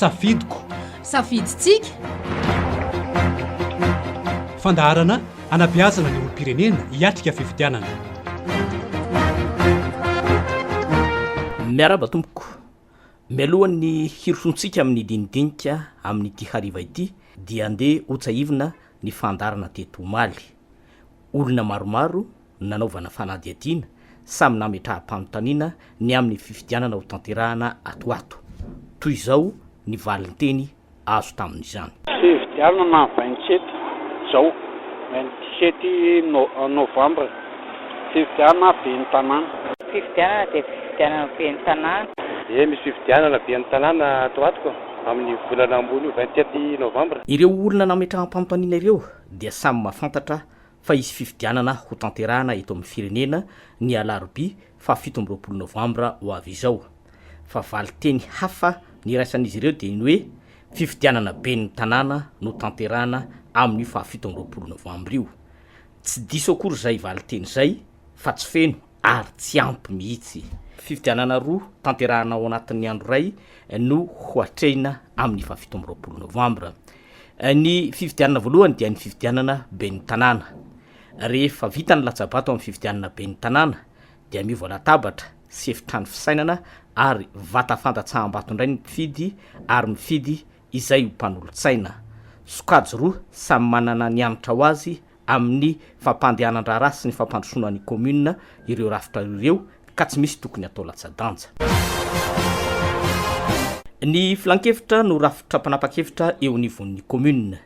safidiko safidintsika fandaharana anabiazana ny olom-pirenena hiatrika fifidianana miaraba tompoko mialohan'ny hirosontsika amin'ny dinidinika amin'nyity hariva ity dia ndeha hotsahivina ny fandaharana teto omaly. Olona maromaro no nanaovana fanadihadiana samy nametraham-panontaniana ny amin'ny fifidianana ho tanterahana ato ho ato. Toy izao ny valinteny azo tamin'izany. Fifidianana na vingt sept Jao, vingt sept novembre, fifidianana ben'ny tanàna. Fifidianana dia fifidianana ben'ny tanàna. Eny, misy fifidianana ben'ny tanàna ato ho ato koa. amin'ny volana ambony io, vingt sept novembre. Ireo olona nametraham-panontaniana ireo dia samy mahafantatra fa hisy fifidianana ho tanterahana eto amin'ny firenena ny alarobia faha fito amby roapolo novambra ho avy izao. Fa valin-teny hafa niraisan'izy ireo dia ny hoe fifidianana ben'ny tanàna no tanterahana amin'io faha fito amby roapolo novambra io. Tsy diso akory izay valin-teny izay fa tsy feno ary tsy ampy mihitsy. Fifidianana roa tanterahina ao anatin'ny andro iray no hoatrehina amin'ny fahafito amby roapolo novambra. Ny fifidianana voalohany dia ny fifidianana ben'ny tanàna. Rehefa vita ny latsa-bato amin'ny fifidianana ben'ny tanàna dia miova latabatra sy efitrano fisainana ary vata fandatsaham-bato indray ny mpifidy ary mifidy izay ho mpanolotsaina. Sokajy roa samy manana ny hanitra ho azy amin'ny fampandehanan-draharaha sy ny fampandrosoana ny kaominina ireo rafitra ireo ka tsy misy tokony hatao latsa-danja. Ny filankevitra no rafitra mpanapa-kevitra eo anivon'ny kaominina.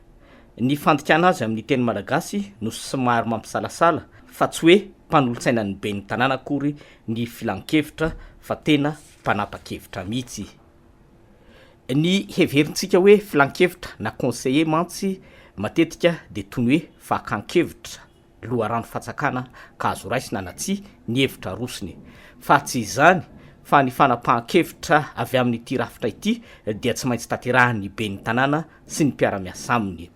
Ny fandikana azy amin'ny teny malagasy no somary mampisalasala fa tsy hoe mpanolo-tsainan'ny ben'ny tanàna akory ny filankevitra fa tena mpanapa-kevitra mihitsy Ny heverintsika hoe filankevitra na conseiller mantsy matetika dia toy ny hoe fakan-kevitra, loharano fantsakana ka azo raisina na tsia ny hevitra arosony. Fa tsy izany fa ny fanapahan-kevitra avy amin'ity rafitra ity dia tsy maintsy tanterahin'ny ben'ny tanàna sy ny mpiara-miasa aminy.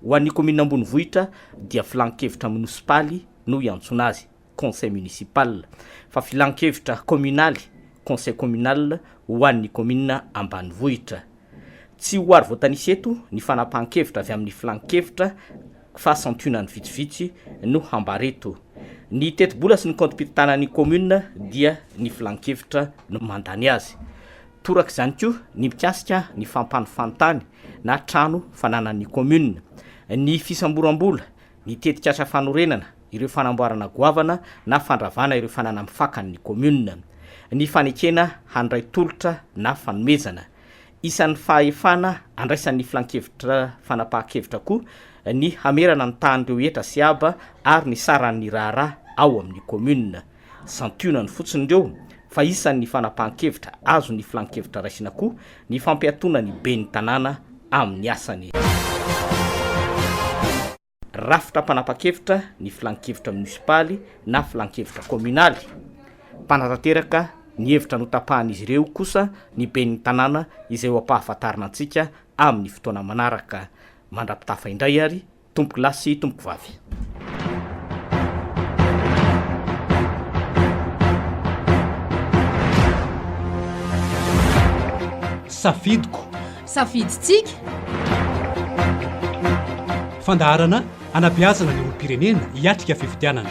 Ho an'ny kaominina ambonivohitra dia filankevitra monosipaly no iantsoana azy. conseil municipal, fa filankevitra kaominaly, conseil communal, ho an'ny kaominina ambanivohitra. Tsy ho ary voatanisa eto ny fanapahan-kevitra avy amin'ny filankevitra fa santionany vitsivitsy no hambara eto. Ny tetibola sy ny kaontim-pitantanan'ny kaominina dia ny filankevitra no mandany azy. Toraka izany koa ny mikasika ny fampanofan-tany na trano fananan'ny kaominina. Ny fisamboram-bola ny tetikasa fanorenana ireo fanamboarana goavana na fandravana ireo fananam fakan' ny kaominina, ny fanekena handray tolotra na fanomezana isan' ny fahefana andraisan' ny Filankevitra Fanapahan-kevitra koa ny hamerana ny tahan' ireo hetra sy haba ary ny saran' ny raharaha ao amin' ny kaominina. Santionany fotsiny ireo fa isan' ny fanapahan-kevitra azon' ny filan-kevitra raisina koa ny fampiatoana ny ben'ny tanàna amin' ny asany. Rafitra mpanapa-kevitra ny filan-kevitra minisipaly na filan-kevitra kôminaly. Mpanatanteraka ny hevitra notapahan' izy ireo kosa ny ben'ny tanàna izay ho ampahafantarina antsika amin' ny fotoana manaraka. Mandra-pitafa indray ary. Tompoko lahy sy tompoko vavy. Safidiko. Safidintsika. Fandaharana anabeazana ny olom-pirenena hiatrika fifidianana.